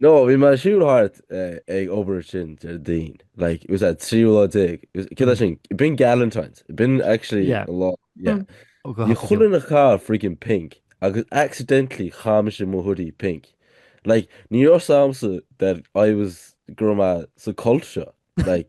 No, bhí mé siúl thart ag obair ansin deir Dean. Like, it was an 13 lá. Cé tá sin? It been Galentine's. It been actually yeah. a lot. Yeah. Mm. Oh, God. Bhí chuile dhuine ag caitheamh freaking pink agus accidentally chaith mise mo hoodie pink. Like, ní raibh a fhios agamsa that I was greamaithe sa cult seo. Like,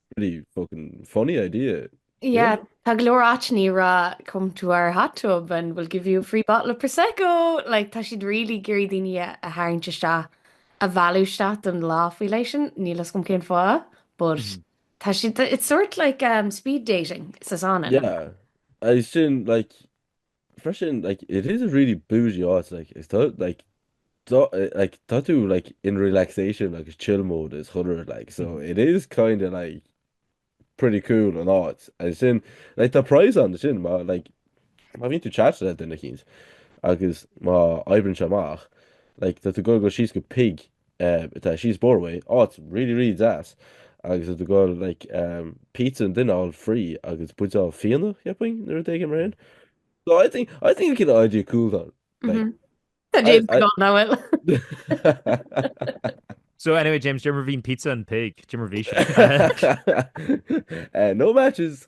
Pretty fucking funny idea. Yeah, tá go leor áiteanna ag rá come to our hot tub and we'll give you a free bottle of Prosecco. Like, tá siad really ag iarraidh daoine a tharraingt isteach, a mhealladh isteach don lá faoi leith sin, níl fhios agam cén fáth, but tá siad, it's sort like um, speed dating sa sauna. Yeah, agus sin, like, freisin like it is a really bougie áit like is tá like tá like tá tú like in relaxation agus chill mode is chuile rud like so it is kind of like pretty cool an áit agus sin like tá prize ansin má like má bhíonn tú ag chattáil le duine eicínt agus má oibríonn sé amach like tá tú ag gabháil go síos go pig Tá sé síos an bóthar uaidh, oh it's really really deas agus do ghol like pizza an duine all free agus buideál fíona cheapfainn nó rud éigin mar sin. So I think I think go bhfuil an idea cool though. Like, mm -hmm. Tá James I, I, gone now, well. so anyway, James, ní raibh aon pizza and pig. Ní raibh aon. uh, no matches.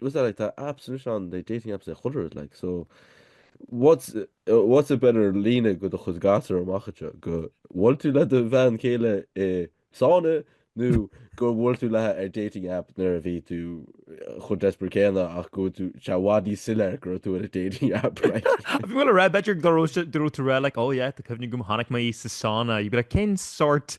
Well it's not like na apps ansin na dating apps is chuile shórt is like so what's what's a better líne do do chuid gasúr amach anseo gur bhuail tú le do bhean chéile i sána nó gur bhuail tú léi ar dating app nuair a bhí tú chomh desperate céanna ach go bhfuil tú sé i bhfad níos soiléir go raibh tú ar an dating app like. If you will a raibh b'fhéidir go raibh tú ar a like oh yeah tá cuimhne agam chonaic mé sa sána you'd be like cén sórt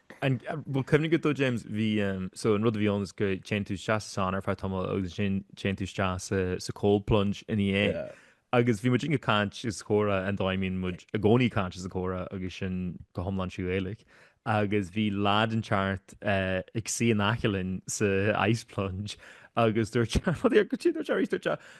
Bhfuil cuimhne agat, James, bhí, so, an rud a bhí ann is go dtéann tú isteach sa sauna ar feadh tamaill agus ansin téann tú isteach sa, sa cold plunge ina dhiaidh. Yeah. Agus bhí muid ag caint is ag comhrá an dóigh a mbíonn muid i gcónaí ag caint is ag comhrá agus sin go hiomlán trí Ghaeilge. Agus bhí lad inteacht ag suí in aice linn sa ice plunge agus dúirt sé, rud, cad é a dúirt sé arís, dúirt sé,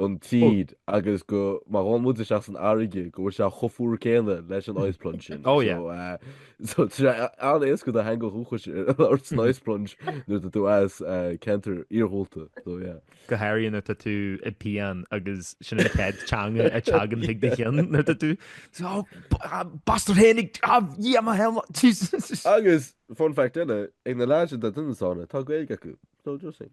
an tír agus go má ghabhann muid isteach san fharraige go bhfuil sé chomh fuar céanna leis an ice plunge sin. Oh yeah. So, tá sé an-éasca do theanga dhúchais ort san ice plunge nuair tá tú as ceantar iarghúlta. So yeah. Go háirithe nuair tá tú i bpian agus sin an chéad teanga a teagann chuig do chionn nuair tá tú so, oh, bastard théinig, ah, yeah, my hell, Jesus. Agus, fun fact eile, ag na lads sin, tá daoine ann, tá Gaeilge acu. So, just saying.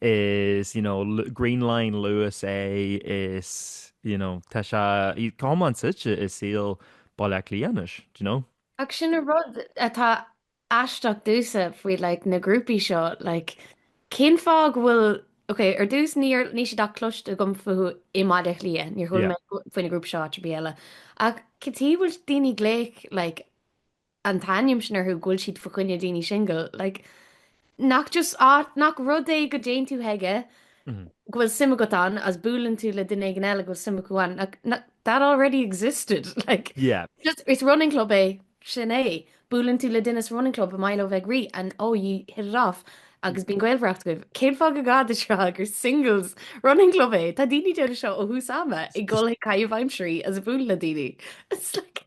is you know green line Luas é is you know tá sé chomh suite i saol Bhaile Átha Cliath anois do you know. Ach sin an rud atá aisteach domhsa faoi like na grúpaí seo like cén fáth go bhfuil ok ar dtús níor níl siad ach cloiste agam fúthu i mBaile Átha Cliath níor chuala mé faoi na grúpaí seo áit ar bith eile ach cad chuige a bhfuil daoine ag glaoch like an t-ainm sin orthu go bhfuil siad fa choinne daoine singil like nach just áit nach rud é go dtéann tú chuige go bhfuil suim agat ann is buaileann tú le duine éigin eile go bhfuil suim acu ann like that already existed like yeah just is running club é sin é buaileann tú le duine sa running club is maith leo bheith ag rith and oh you hit it off agus bíonn gaolmhaireacht agaibh cén fáth gur gá duit rá gur singles running club é tá daoine ag déanamh seo ó thús ama ag gabháil chuig caitheamh aimsirí is ag bualadh le daoine it's like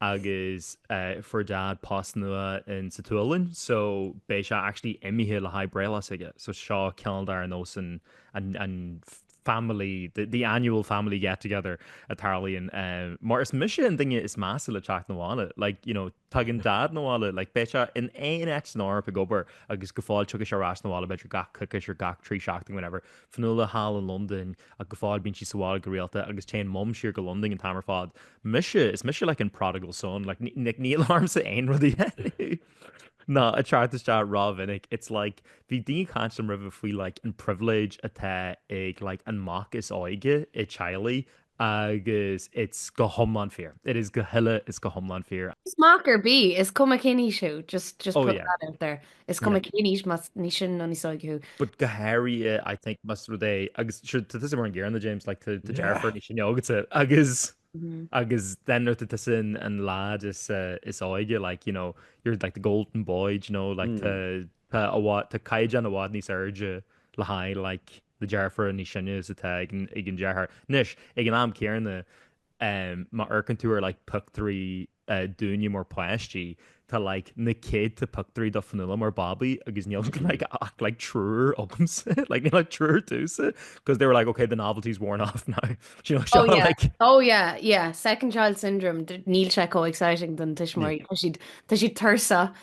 agus fuair Daid post nua in sa tSualainn so beidh sé actually imithe le haghaidh breithlá s'aige. So seo ceann dár nósanna an family the, the annual family get together a tharlaíonn um, mar is mise an duine is measa le teacht 'na bhaile like you know tagann dad 'na bhaile like beidh sé in áit éigin san Eoraip ag obair agus go fóill tiocfaidh sé ar ais 'na bhaile b'fhéidir gach coicís nó gach trí seachtain whenever Fionnuala thall i Londain ach go fóill bíonn sí sa bhaile go rialta agus téann Mum siar go Londain an t-am ar fad. Mise, is mise like an prodigal son like like níl orm orthusa aon rud a dhéanamh ná teacht isteach rómhinic. It's like bhí daoine ag caint liom roimhe faoi like an privilege atá ag like an mac is óige i teaghlaigh agus it's go hiomlán fíor. It is go huile is go hiomlán fíor. Mac ar bith, is cuma cén aois thú, just just put that out there, is cuma cén aois más níos sine nó níos óige thú. But go háirithe I think más rud é, agus sure tá tusa mar an gcéanna James, like tá tá deirfiúr níos sine agatsa agus agus then nuair tá tusa an an lad is óige like you know you're like the golden boy do you know like tá tá a bhá tá caighdeán i bhfad níos airde le haghaidh like na deirfiúr níos sine is atá ag an deartháir. Anois, ag an am céanna, má amharcann tú ar like pictiúirí dínne mar páistí, tá like na céadta pictiúirí de Fionnuala mar babaí agus níl like ach like triúr domsa, like níl ach triúr duitse, because they were like ok, the novelty's worn off now. Do you know seo? Oh yeah, like, oh yeah, yeah, second child syndrome, níl sé comh exciting don tuismitheoirí, tá siad, tá siad tuirseach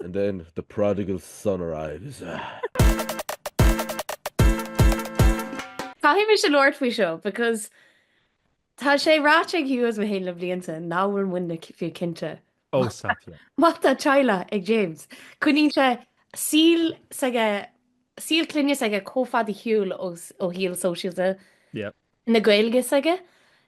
And then the prodigal son arrives ahh. Caithfidh mise labhairt faoi seo because tá sé ráite ag Hugh is mé féin le blianta nach bhfuil muidne fiú cinnte Oh stop yeah. má tá teaghlach ag James. Coinníonn sé saol s'aige, saol clainne s'aige chomh fada ar shiúl ó shaol sóisialta. Yep. na Gaeilge s'aige,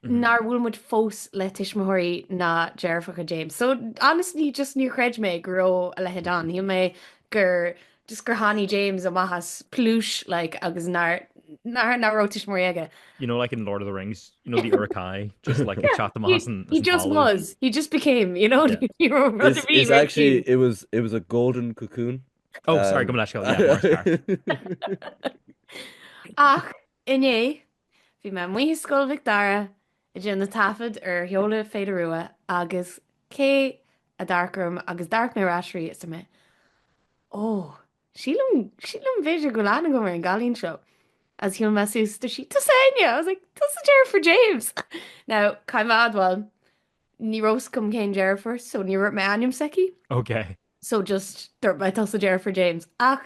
nár bhuail muid fós le tuismitheoirí ná deirfiúracha James. So honestly just níor chreid mé go raibh a leithéid ann. Shíl mé gur just gur tháinig James amach as pluais like agus nár nár nár raibh tuismitheoirí aige. You know like in Lord of the Rings, you know the Uruk-hai just like ag teacht amach as an as an talamh. He just was, he just became, you know. It's actually it was it was a golden cocoon. Oh sorry gabh mo leithscéal. Ach Inné, bhí mé amuigh i Scoil Mhic Dara ag déanamh taifead ar sheoladh Féile Rua agus cé a d'amharc orm agus d'amharc mé ar ais arís is mé, Ó, sílim, sílim b'fhéidir go bhfuil aithne agam ar an gcailín seo agus shiúil mé suas, dúirt sí, Tusa Áine? I was like, Tusa deirfiúr James! Now, caithfidh mé admháil, ní raibh 's agam cén deirfiúr so níor dhúirt mé ainm s'aici. Okay. So just dúirt mé tusa deirfiúr James ach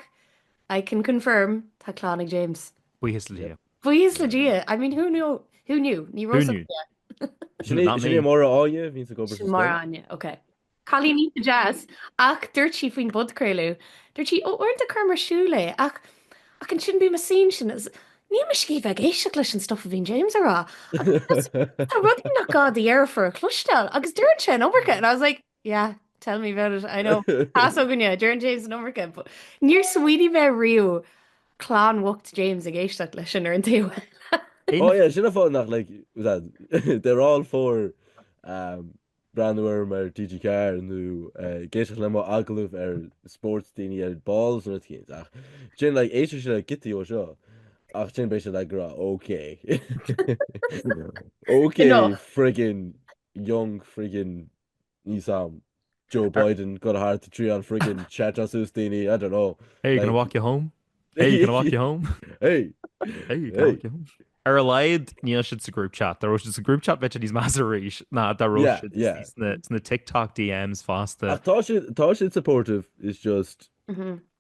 I can confirm tá clann ag James. Buíochas le Dia. Buíochas le Dia. I mean who knew? Who knew? Ní raibh Who knew? Sin é sin é Máire Áine, bhíonns ag obair sa scoil. Sin Máire Áine, ok. Cailín iontach deas ach dúirt sí faoin bpodchraoladh, dúirt sí ó uaireanta cuirim ar siúl é ach ach ansin bím a seen sin as níl mise ag iarraidh bheith ag éisteacht leis an stuff a bhíonn James a rá agus tá rudaí nach gá do dheirfiúr a chloisteáil agus deireann sé an iomarca and I was like Yeah, tell me about it, I know. Tá 's againne, Deireann James an iomarca. Níor smaoinigh mé riamh clann bhocht James ag éisteacht leis sin ar an taobh eile. Oh yeah, sin an fáth nach like, was that, they're all for um, breathnú orm ar TG4 nó uh, ag éisteacht le mo agallamh ar spóirt daoine ar ball nó rud eicínt. Ach ansin, like, éistfidh sé le giotaí dó seo. Ach ansin beidh sé ag rá, ok. ok, friggin young friggin ní sam Joe Biden go hard to trí an friggin chat as ús daoine I don't know Hey, you gonna Like- walk you home? Hey, you gonna walk you home? hey Hey, you gonna Hey. walk you home? Ar a leid níl si sa group chat, Tá si sa group chat bit níos más éis ná dá ro Yeah, yeah. sna TikTok DMs fásta. Ach tá sé tá sé supportive is just Mhm.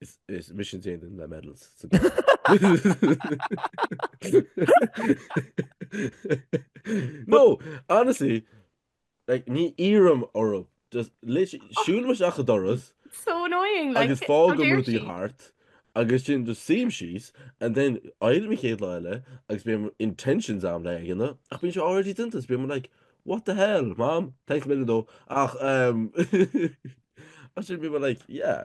Is is mise an duine le medals sa gclub. No, honestly, like, ní iarraim uirthi. Just lit- siúlaim isteach an doras So annoying, like, agus fágaim how dare rudaí she? thart agus ansin just suím síos and then éirim an chéad lá eile agus bíonn intentions agam le é a dhéanamh ach bíonn sé already done agus bím like what the hell mam thanks a million though ach um ach ansin bím like yeah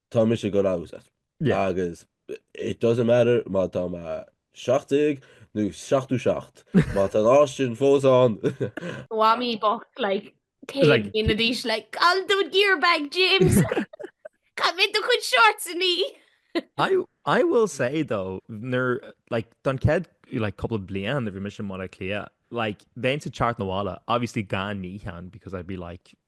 tá mise gan agus at. Yeah. Agus it doesn't matter má tá me 17 nó 7ú 7 má tá lá sin fós an Wami bok like Like- cake in the dish like I'll do gear bag James. Come in the good shorts in me. I I will say though, ner like don kid like couple of blian if your mission mod clear. Like then to chart Nawala, obviously gan me hand because I'd be like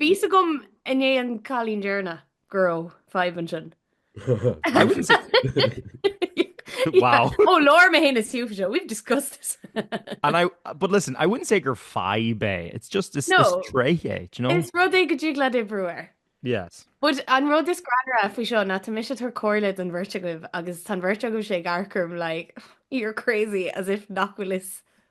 Bhí 's agam i ndiaidh an cailín deireanach go raibh fadhb ansin. I wouldn't say Wow. Ó labhair mé fhéin is Hugh faoi seo, we've discussed this. And I, but listen, I wouldn't say gur fadhb é. It's just is No. is tréith é, do you know? Is rud é go dtig leat oibriú air. Yes. But an rud is greannmhaire faoi seo ná tá mise ag tabhairt comhairle don bheirt agaibh agus tá an bheirt agaibhse ag amharc orm like you're crazy as if nach bhfuil 's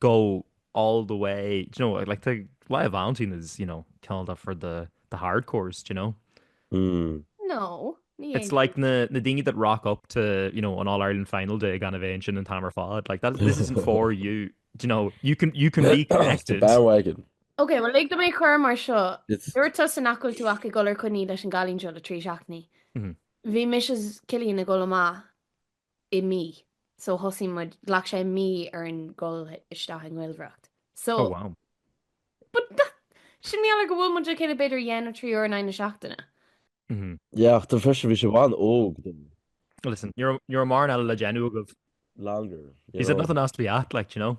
go all the way you know like the lie of Valentine is you know called up for the the hardcores do you know mm. no it's like the the dingy that rock up to you know an all Ireland final day gan invention and hammer fod like that this isn't for you do you know you can you can be connected wagon okay well like the make her mar seo Ruta san acu tú acu golar chuní leis an galín seo le trí seachní hí mis kilín na gola má i mí. So thosaigh muid, ghlac sé mí orainn dhul isteach i ngaolmhaireacht. So. Oh wow. But that, sin mar gheall ar go bhfuil muid le chéile b'fhéidir dhá nó trí uair in aghaidh na seachtaine. Mhm. Yeah, ach freisin bhí sibh an-óg though. Listen, ní raibh, ní raibh mórán eile le déanamh agaibh. Longer, you know. He said nothing else to be at, like, do you know?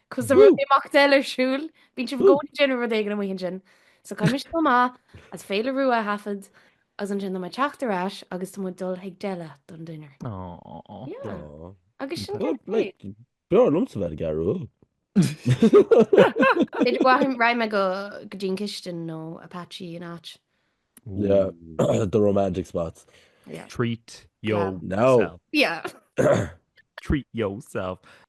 Cos tá rud imeacht eile ar siúl, bíonn sibh ag gabháil ag déanamh rud éigin amuigh ansin. So caithfidh mise dul amach is Féile Rua a thaifead agus ansin tá mé ag teacht ar ais agus tá muid dul chuig deli don dinner. Yeah. Aww. Agus sin Well, céard é. like, b'fhearr liomsa bheith ag athrú. B'fhéidir go raghaidh raghaidh mé go go dtí an cistin nó Apache an áit. Yeah, the romantic spots. Treat yourself. Yeah. Treat yourself.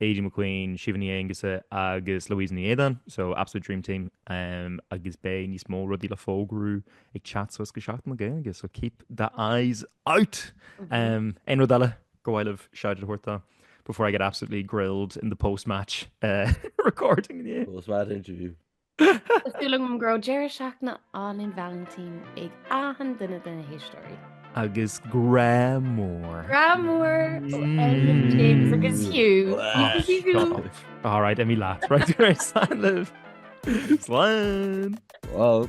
Aideen McQueen, Síomha Ní Aonghusa agus Louisa Ní Éideáin, so absolute dream team agus beidh níos mó rudaí le fógrú ag teacht suas go Seachtain na Gaeilge, so keep the eyes out! Aon rud eile go bhfuil uaibh shoutout a thabhairt dó before I get absolutely grilled in the post-match recording inniu? Post-match interview. Tá súil agam go raibh deireadh seachtaine álainn Vailintín ag achan duine de na héisteoirí. Agus grá mór. Grá mór ó Elliot, James agus Hugh. All right, imigh leat. Right, go raibh said libh. Slán! Wow.